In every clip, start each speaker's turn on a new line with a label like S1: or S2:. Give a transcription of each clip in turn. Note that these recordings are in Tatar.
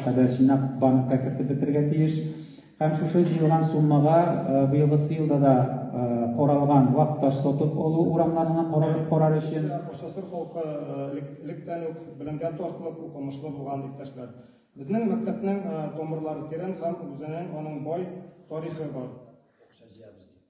S1: кадәр җыйнап банкка кертеп бетерергә тиеш. Һәм шушы җыелган суммага быелгы елда да каралган вак таш сатып алу урамнарына каралып карар өчен. Ашасыр халкы
S2: электән үк белемгә тартлык, укымышлы булган иптәшләр. Безнең мәктәпнең тамырлары тирән һәм үзенең аның бай тарихы бар.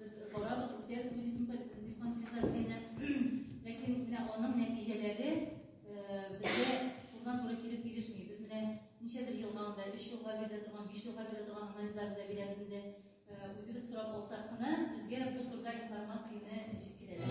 S3: Без барабыз, үтәбез бу диспансеризацияне, ләкин менә аның нәтиҗәләре безгә турыдан-туры килеп ирешми. Без менә ничәдер елга анда, өч елга бирелә торган, биш елга бирелә торган анализларны да бирәбез инде. Үзебез сорап алсак кына, безгә бу турыда информацияне җиткерәләр.